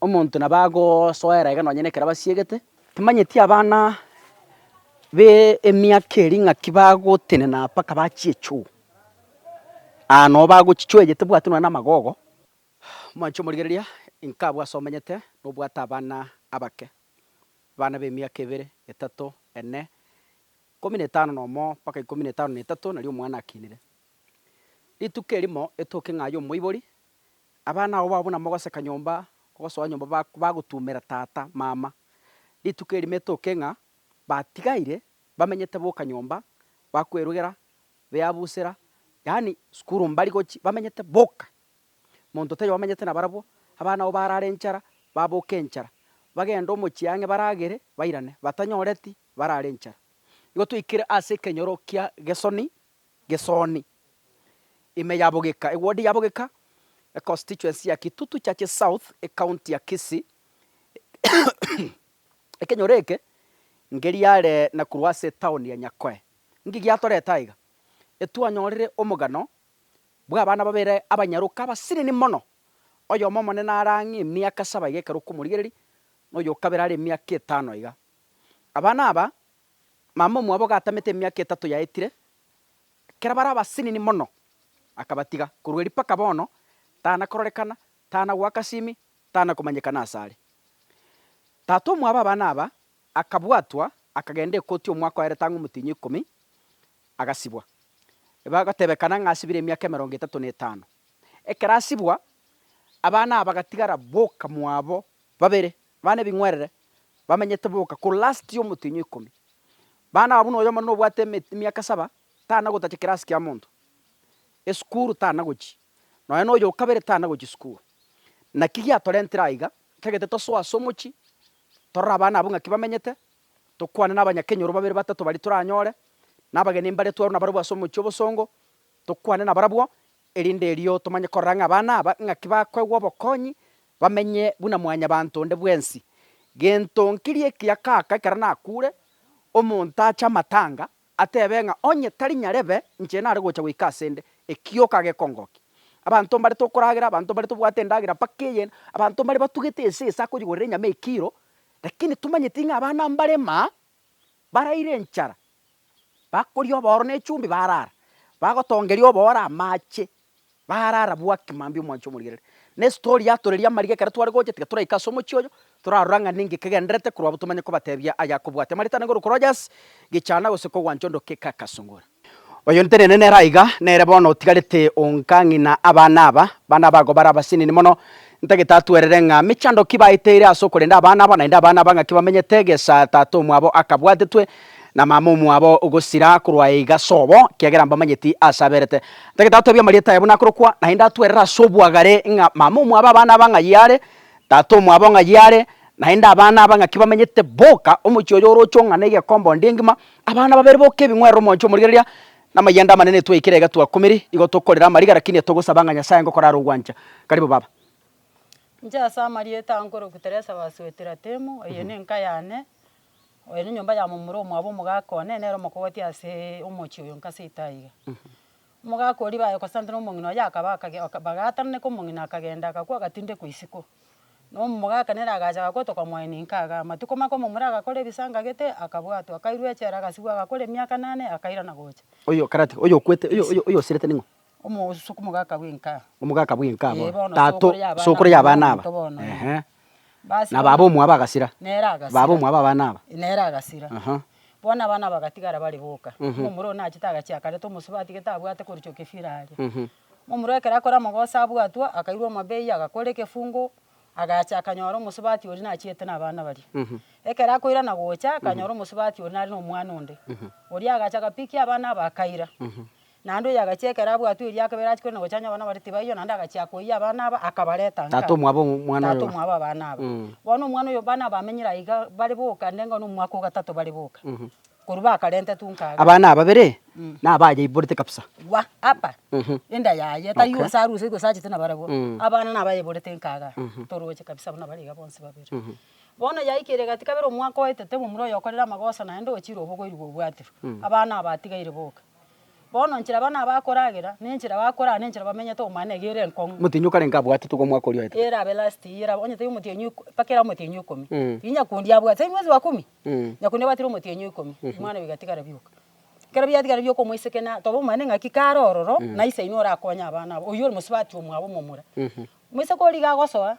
Omonto nabo agosoera iga nonye nekero abasiegete. Timanyeti abana b'emiaka eria ng'aki bagotenena mpaka bachie choo. Aa noo bagochia choo eye tebwati nonye na amagogo. Omoanchwa omorigereria inko abwo ase omenyete na obwate abana abake, abana b'emiaka ebere, etato, ene, ikomi na etano nomo mpaka ikomi na etano na etato nario omwana akinire. Rituko erimo etoke ng'a aye omoibori Abana abo babo namogoseka nyomba gosoa nyomba bagotumera tata, mama, rituko erio metoke ng'a batigaire bamenyete boka nyomba bakwerugera beabusera yaani sukuru mbari gochi bamenyete boka monto taiyo bamenyete nabarabwo abana abo barara enchara baboka enchara bagende omochie ang'e baragere bairane batanyoreti barare enchara. Igo twaikire ase ekenyoro kia Gesoni Gesoni, ime ya Bogeka, ewodi ya Bogeka, econstituency ya Kitutu Churches South, ecounty ya Kisii. Ekenyoro eke ngeriare na korwa ase etaoni ya Nyakoe. Nki giatorete aiga? Etwanyorire omogano bw'abana babere abanyaroka abasinini mono, oyomo omonene are ang'e emiaka saba aiga ekero okomorigereria, na oyokabere are emiaka etano aiga. Abana aba Mama omwabo gatamete emiaka etato yaetire, ekero bare abasinini mono akabatiga. Korwa erio mpaka bono tana kororekana, tana goaka simi, tana komanyekana ase are. Tata omwabo abana aba akabwatwa, akagenda ekoti omwaka oerete ang'e omotienyi ikomi, agasibwa. Bagotebekana ng'a asibire emiaka emerongo etato na etano. Ekero asibwa, abana aba bagatigara boka mwabo babere Bana ebing'werere bamenyete boka korwa last ya omotienyi oikomi. Bana aba buna oyomo na obwate emiaka saba tana gotacha kirasi kia monto. Esukuru tana gochi. Nonya na oyo okabere tana gochi sukuru. Naki giatorentire aiga, tagete tosoe ase omochi, torore abana abwo ng'aki bamenyete, tokwane na abanyakenyoro babere batato baria toranyore, na abageni mbaria twarwa nabarabwo ase omochi obosongo, tokwane nabarabwo, Erinde erio tomanye korora ng'a abana aba ng'aki bakoegwa obokonyi, bamenye buna Mwanyabaanto onde bwensi. Gento nkirie ekiya kaka ekero nakuure, omonto ache amatanga, atebe ng'a onye tari nyarebe inche nare gocha goika ase 'nde, ekioka gekongokia. Abanto mbarete okoragera, abanto mbarete obwate endagera mpaka eyende, abanto mbare batugete esesa akonyigorera enyama ekiro, rakini tomanyeti ng'a abana mbarema Baraire enchara, bakoria obooro na echumbi baraara, bagotongeria obooro amache, baraara bwaki mambia omwancha omorigereri. Na estory yatoreria amariga ekero tware gocha tiga toraike ase omochie oyo, torarora ng'a ninki kegendererete korwa abwo tomanye kobatebia ayakobwatia. Marita nigo orokoroche ase, gechana gose kogwancha ondoke kaka sungura. Oyo ntenene nere aiga, nere bono otigarete onka ng'ina abana aba, abana aba agobare abasinini mono. Ntagete atwerere ng'a mechando ki baeteire ase okorenda abana aba, naende abana aba ng'aki bamenyete egesa tata omwabo akabwatetwe, na mama omwabo ogosira korwa aye iga sobo, ekiagera mbamanyeti aase aberete. Ntagete atebie amarieta aye buna akorokwa, naende atwerere ase obwagare ng'a mama omwabo abana aba ng'ayio are, tata omwabo ng'ayio are, naende abana aba ng'aki bamenyete boka, omochie oyo oroche ong'ane egekomba onde engima, Abana babere boka ebing'werero omochie omorigereria, na amayanda amanene etwaikera iga twakumire, igo tokorera amariga, lakini etogosaba ng'a Nyasaye aye ngokorara ogwancha. Karibu baba. Inche ase amarieta aa nkorokwa Teresa wa Suetira-Temu, eye nenka yane, oyo nenyomba ya momura omwabo omogaka one, nere omokogoti ase omochie oyo nka seito aiga. Omogaka oria baye kosantana omong'ina oye akaba akage, bagaatananeka omong'ina akagenda agakwa agatindekwa isiko. Na omogaka nere agacha agakwa tokamoa eninka iga. Amatuko make omomura agakora ebisanga gete, akabwatwa, akairwa echela, agasigwa agakora emiaka enane, akairana gocha. Oyo okarati, oyo okwete, oyo oyo oyo osirete ning'o? Omo- suku- omogaka bw'enka. Omogaka bw'enka Ee, aboro. bono Tato, sokoro y'abana aba, sokoro y'abana aba. omonto bono, ee. Ehe. na baba omwabo agasira, baba omwabo abana aba. Nere agasira. Aha. Bono abana bagatigara bare boka. Ng'a omorwao nachete agachie akareta omosubati atagete abwate korochia ekefira aria. Ng'a omorwao ekero akore amagoso abwatwa, akairwa omabei agakora egefungu, agacha akanyora omosubati oria nachiete na abana baria. Ekero akoirana gocha, akanyora omosubati oria nare na omwana onde. Oria agacha agapikia abana aba akaira. Naende oyo agachia ekero abwatwe erio akabera achia korenda gochanya abana baria tibaiyo, naende agachia koiyia abana aba, akabareta inkabe. Tata omwabo omwana oyo. Tata omwabo abana aba. Bono omwana oyo abana bamenyire aiga bare boka, nde ng'a nomwaka o gatato bare boka, korwa bakarentetwe inka iga. Abana ababere, nabayeiborete kabisa. Gwa apa, enda yaye, tari onsi aruse gose achete nabarabwo, abana nabayeiborete inka iga, toroche kabisa buna bare iga bonsi babere. Bono yaikire egati kabere omwaka oetete momura oyo okorire amagoso naende ochire obogoirigwa obwatirwe, abana aba atigaire boka. Bono nchera abana aba akoragera, ne nchera bakoraa, ne nchera bamenyete omo aane egere enkong'u. Omotienyi o kare inga abwatete kwa omwaka oria oetete. Erabe last year erabe onye tari omotienyi iko mpaka era omotienyi ikomi. Tiri nyakundi abwate tari mwezi wa kumi. Nyakundi abwatire omotienyi ikomi omwana bigatigara bioka. Ekero biatigara bioka omoiseke na toba omanyete ng'aki kare ororo na isaino orakonye abana abo. Oyio ore mosubati omwabo momura. Moiseke oria iga agosoa.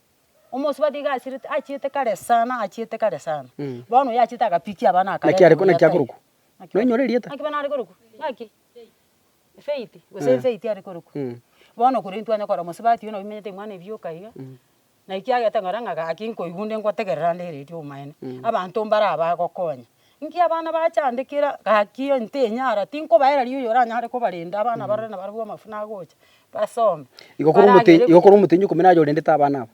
Omosubati iga achirete, achiete kare sana, achiete kare sana. Mm. Bono oyo achiete agapikia abana Naki akareta are ko- naki omoyia tai. akorokwa? Naki Nonya ore erieta? Naki bono are korokwa, naki? Efaith, gose Eh. efaith are korokwa. Mm. Bono korende twanya kora omosubati oyo nabo omenyete imwana ebioka iga, na ekiagete ngora ng'a gaki nkoigwa onde ngotegerera nde redio omaene. Abanto mbare aba agokonya. Nki abana bachandekera gaki eye ntenyara, tinkobaera riiri oyoranyare kobarenda abana barore nabo barabwo amafuna agocha basome. Igo kore omotei, Baragere- igo kore omotei nyokobua naye orendete abana aba.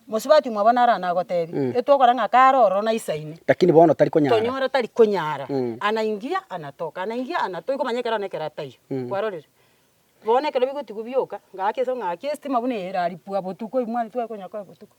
Mosubati omo bono naro anagotebie, Mm. etwokora ng'a kare ororo naisaine, Lakini bono tari konyara. tonyora tari konyara, Mm. ana ingia ana toka, ana ingia ana toka, ikomanya ekero nekero ataiyo, Mm. kwarorire? Bono ekero bigotigwa bioka, gaki ase ng'aki estima buna eye eraripwa botuko, imwani tware konya koe botuko.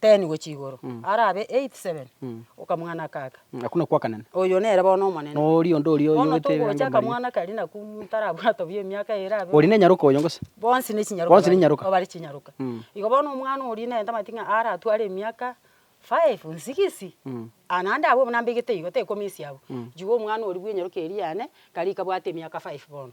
Ten gochia igoro. Arabe eight, seven, okamwana aka aka. Aku nakwo akanene. Oyo nere bono omonene. Na oria onde oria Bono oyogete ebirango togocha mbaria. akamwana karia naku ntarabwatwa bia emiaka eye erabe. Oria nenyaroka oyo gose? Bonsi ne chinyaroka Bonsi ne bare- nyaroka. bare chinyaroka. Igo bono omwana oria nere tamanyeti ng'a aratware emiaka five, nsigisi, ah naende abwo buna mbegete igo, tekomisia abwo. Igo omwana oria bwenyaroka eria yane, kare kabwate emiaka five bono.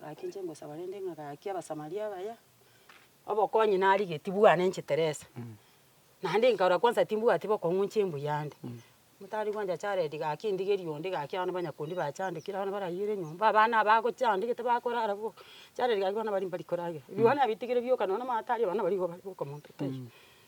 Gaki inche ngosaba rende ng'a gaki Abasamaria abaya, obokonyi narigetie bwane inche Teresa, naende nkarora kwanza timbwati bokong'uncha embuya ande, ntari gwancha charedi gaki ndigerie onde gaki abana banyakundi bachandekire abana baraiyire enyomba, abana aba agochandegete bakorara bo, charedi gaki abana baria mbari koragera, ebiwana bitigire bioka nonya na amato aria abana baria igo bare bokomonto taibo.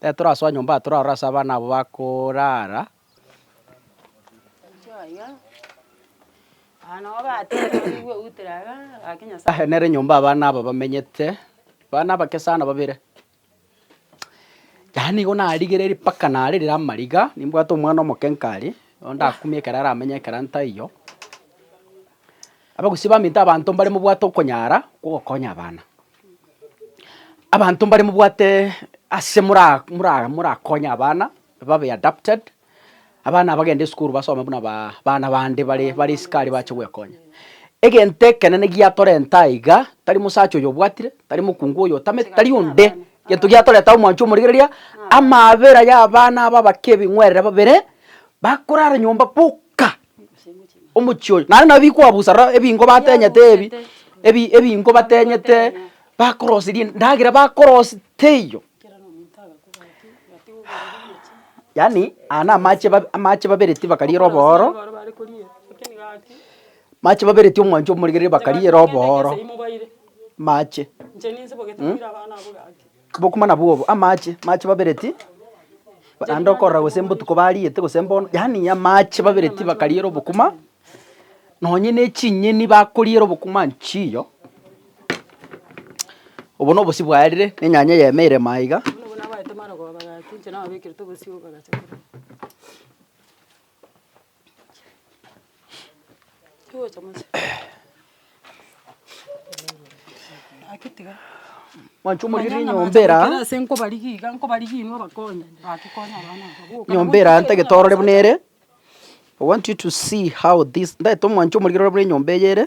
Tetorasoa nyomba aa torarore ase abana abo bakoraara. Aye nere nyomba abana aba bamenyete, abana abake sana babere. Yaani nigo narigereiri mpaka narerire amariga, nimbwate omwana omoke nkare, nigo ndakumia ekero aramenye ekero ntaiyo. Abagusii baminto abanto mbare mobwate okonyara kwa ogokonya abana. Abanto mbare mobwate ase mora mora morakonye abana babe adapted, abana abagende esukuru basome buna baa abana bande bare bare isiko aria bache gwekonya. Egento ekenene giatorenta aiga, tari mosacha oyo obwatire, tari mokungu oyo otamete, tari onde, gento giatoreta ase omwancho omorigereria, amaabera y'abana aba abake ebing'werere babere, bakorara nyomba boka. omochie oyo. Naende nabo bikoabusa rora ebingo batenyete ebi, ebi ebingo batenyete bakorosia rinde endagera bakorosi teiyo yaani aya na amache babe amache babereti bakariera obooro, mache babereti omwancho omorigereri bakariera obooro, mache mh. Bokumana bw'obo amache mache babereti naende okorora gose mbotuko bariete gose mbono, yaani amache babereti bakariera obokuma, nonye ne chinyeni bakoriera obokuma nchiyo, obo na obosio bwaerire na enyanya yaemeire ime aiga. Mwancha omorierio nyomba era, nyomba era ntagete orore buna ere, I want you to see how this, ntagete mwancha omorierio orore buna enyomba eye ere.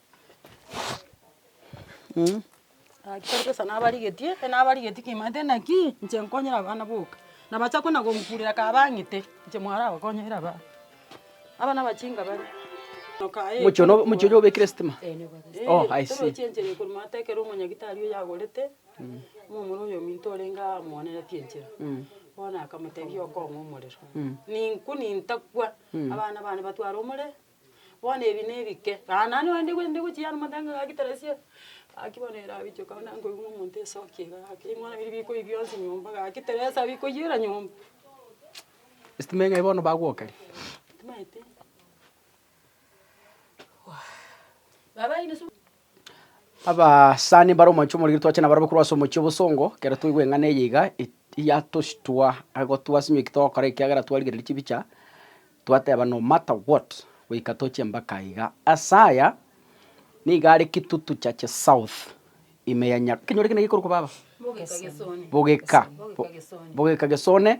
Agachia koresa nabarigetie, enabarigetie kemanyete naki, inche nkonyere abana boka. Nabacha kona gonkurera ka bang'ete, inche mwara gokonyera abana. Abana abachinga bare, noka aye. Omochie one omochie oria obekire sitima? Oh, I see. Torochie enchera eye korwa mato ekero omonyagitari oyo agorete, momura oyo ominto orenge aa amoanenetie enchera. Bono akamotebia okong'e omorero. Ninku nintakwa, abana bane batware omore. Bono ebi nebike, na nani onde gwe nde gochia amo nde ngaki teresia, gaki bono erabichoka bono nere nkoigwa omonto esoki iga gaki ring'o bono biri bikoi bionsi nyomba gaki teresa bikoiyera nyomba. Estima eng'ai bono bagwokeria. Timaeti. Baba inosu. Abasani mbare omwancho omorikire twache nabo arabe korwa ase omochie obosongo, ekero twaigwa eng'ana eye iga, e yatoshitua ago twasimia eki togokora ekiagera twarigereiri chibicha, twateba no matter what, goika toche mpaka iga. Ase aya, nigo are Kitutu Chache South, ime ya Nya ekenyoro ekio naki gekorokwa baba? Bogeka. Bogeka Gesone.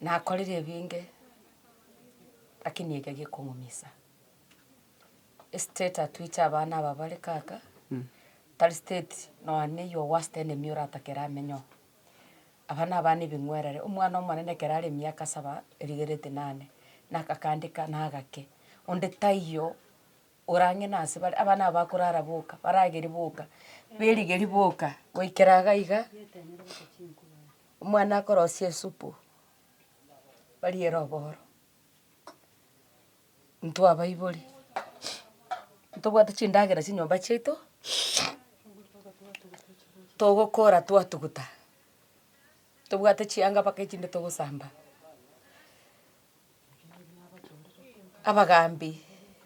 nakorire ebinge, lakini eke gekong'umisa. Estate atwiche abana aba bare kaka, tari state nonya na your worst enemy oratake ramenye oo. Aba nabana ebing'werere, omwana omonene ekero are emiaka saba, erigereti nane, nakakandeka na agake, onde taiyo orang'ina ase bare, abana aba bakorara boka, barageri boka, berigeri boka, goikera iga iga. Omwana akorosia esupu, bariere oboro, intwe abaibori ntobwate chindagera chinyomba chiaito, togokora twatuguta, ntobwate chianga mpaka echinde togosamba. Abagambi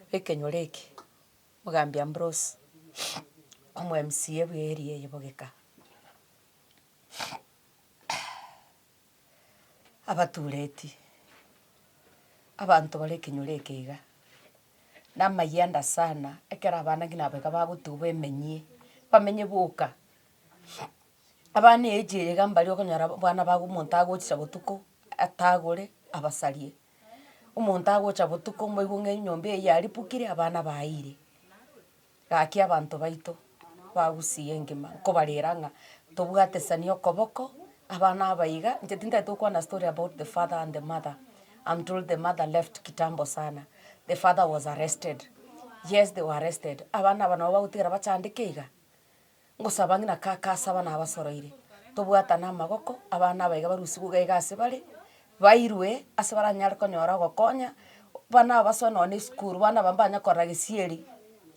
b'ekenyoro eke, omogambi Ambrose, omwe MCA bw'area eye bogeka. abatureti, abanto bare ekenyoro eke iga, na amayanda sana, ekero abana ngina aba iga bagotuba emenyie, bamenye boka. Abana eage eye iga mbaria okonyora abana ba omonto agochia botuko atagore abasarie, omonto agocha botuko mboigwe ng'a enyomba eye yaripukire abana bayiire. Gaki abanto baito bagusie engima nkobarera ng'a tobwatesanie okoboko abana aba iga inche tintagete gokwana story about the father and the mother am told the mother left kitambo sana the father was arrested yes they were arrested abana aba nabo bagotigara bachandeke iga. Ngosaba ng'ina kaka asaba nabasoroire, tobwatane amaboko, abana aba iga barusigwe iga iga ase bare, bairwe ase baranyare konyora ogokonya, abana aba basoe nonye na esukuru, abana aba mbanye korora gesieri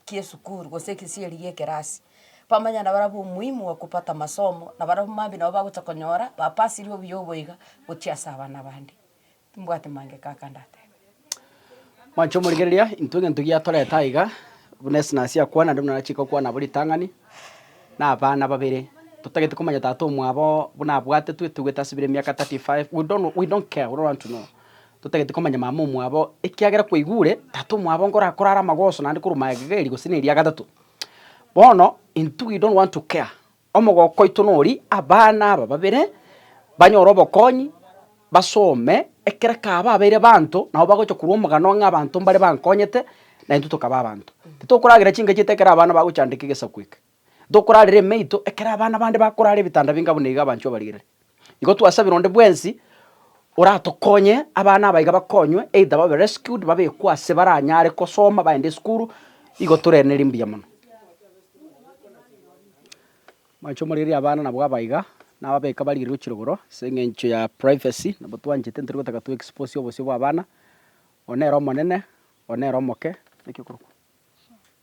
ki'esukuru gose gesieri gi'ekerasi, bamanye nabo arabwo omuhimu bwa kupata masomo, nabo arabwo mambia nabo bagocha konyora bapasire obuya obo iga gochia ase abana bande. Timbwati mangeko aka ndateba. Mwancha omorigereria, intwe egento giatorete aiga, buna Esnasi akwana, naende buna nachika okwana nabo ritang'ani, na abana babere. Totagete komanya tata omwabo buna abwate, twetogwete asibire emiaka thirty five, we don't know, we don't care, we don't want to know. Totagete komanya mama omwabo, ekiagera kwaigure tata omwabo nkorakora are amagoso naende korwa magega eri gose na eria gatato. Bono, intwe we don't want to care, Omogoko oito nori, abana aba babere banyore obokonyi, basome, ekero kaaba abeire baanto, nabo bagocha korwa omogano ng'a abanto mbare bankonyete, na intwe tokaba abanto. Titokoragera chingaki ete ekero abana bagochandeka egesaku eke. Ntokorarere emeito ekero abana bande bakorara ebitanda binga buna iga abanchwa barigerere. Igo twasabire onde bwensi oratokonye abana abaiga bakonywe, either babe rescued, babekwe ase baranyare kosoma baende esukuru, igo toreneri mbuya mono. Mwanche omorieria abana nabwo abaiga, nababeka barigererio chirogoro ase eng'encho ya privacy, nabo twanchete ntori gotaka to expose obosio bw'abana, one ere omonene, one ere omoke, naki okorokwa.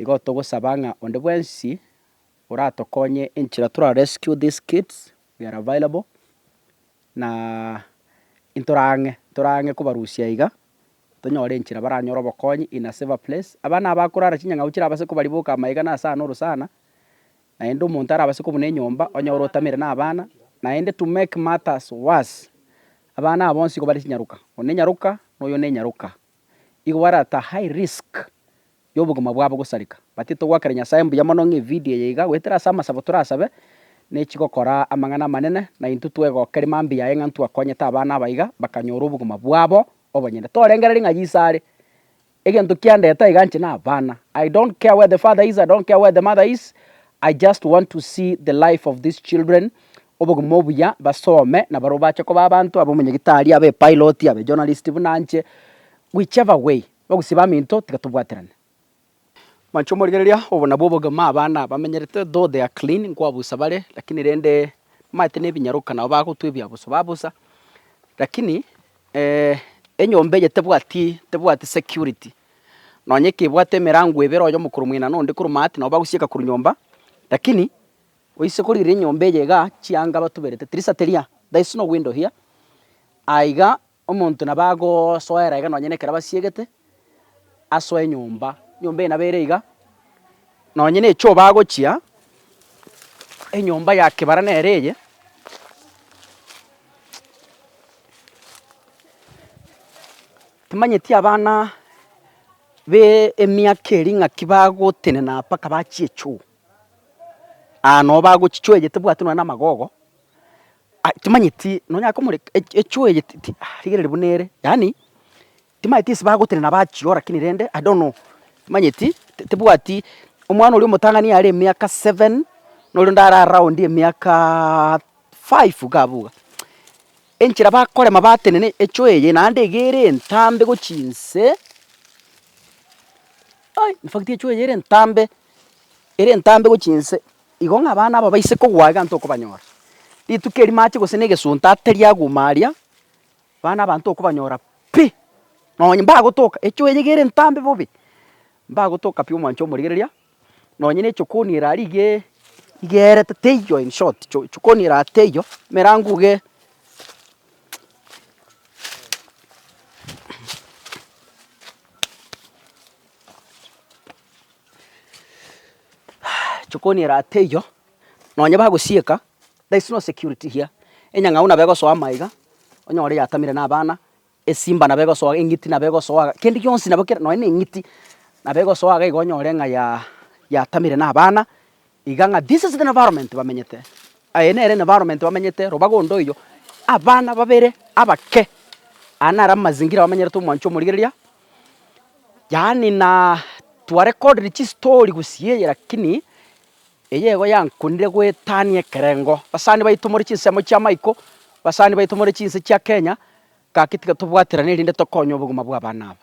Igo togosaba ng'a onde bwensi oratokonye enchera tora rescue these kids, we are available na ntora ang'e, ntora ang'e kobarusia iga, tonyore enchera baranyore obokonyi in a safer place. Abana aba bakorara chinyang'au chirabase kobariboka amaega na ase ano orosana, naende omonto arabase kobuna enyomba onyore otamere na abana, naende to make matters worse, abana aba bonsi igo bare chinyaroka, one nyaroka, na oyo ne nyaroka. igo barata high risk yobogima bwabo gosareka. But togoakera Nyasae mbuya mono ng'a evideo eye iga goetera ase amasabo torasabe, nechigokora amang'ana amanene, na intwe twegokeria mambia aye ng'a ntwakonyete abana abaiga bakanyora obogima bwabo obonyene. Torengererie ng'a Yeso are, egento kiandete aiga inche nabana, I don't care where the father is, I don't care where the mother is, I just want to see the life of these children, obogima obuya, basome na barobwo bache koba abanto, abe omonyagitari, abe epilot, abe ejournalist buna inche, whichever way, bagusie baminto tiga tobwaterane. Mwancha omorigereria, obo nabwo obogima abana bamenyerete, though they are clean, nkoabusa bare, lakini rende mbaete nebinyaroka nabo bagotwa ebiabuso babusa, lakini enyomba eye tebwati tebwati security. Nonya ekebwate emerango ebere, oye omokoro mwena na onde korwa Maati, nabo bagosieka korwa nyomba. Lakini oise korigireria enyomba eye iga chianga batuberete tirisa teria, there is no window here, aiga omonto nabo agosoera iga nonya nekero abasiegete, asoe enyomba, enyomba eye nabo ere iga. Nonya na echoo bagochia, enyomba ya kebara nere eye, Timanyeti abana b'emiaka eria ng'aki bagotenena mpaka bachie choo, aa nabo bagochia choo eye tebwati nonye na amagogo, aa timanyeti nonyare komoreka echoo eye ti rigereri buna ere yaani timanyeti ase bagotenena bachia oo lakini rende i don't know timanyeti tibwati omwana oria omotang'ani yare emiaka seven noria ondare around emiaka five iga abwo iga Enchera bakorema batenene echo eye naende iga ere entambe gochia inse, ai infact echo eye ere entambe, ere entambe gochia inse, igo ng'a abana aba baise kogwa iga ntokobanyora. Rituko eri mache gose na egesunte ateria aguma aria, abana aba ntokobanyora pi, nonye mbagotoka, echo eye iga ere entambe bobe, mbagotoka pi omwancho omorigereria. nonye nechokoni ero aria iga igerete teiyo in short chokoni ero aria teiyo emerango iga eeh chokoni ero aria teiyo nonye bagosieka there is no security here, enyang'au nabo egosoa ama iga onyore yatamire na abana Esimba nabo egosoa, eng'iti nabo egosoa, kende gionsi nabo kere nonya na eng'iti nabo egosoa iga iga onyore ng'a ya yatamire na abana iga ng'a this is the environment bamenyete. Eye nere environment bamenyete robaga onde oyio, abana babere abake, aya naro amazingira bamenyerete omwanchi omorigereria, yaani na twa recordiri chistory gusii eye lakini Eyeigo yankundire goetania ekerengo. Basani baito more chinsemo chia Michael, basani baito more chinse chia Kenya, gaki tiga tobwaterane erinde tokonye obogima bw'abana aba.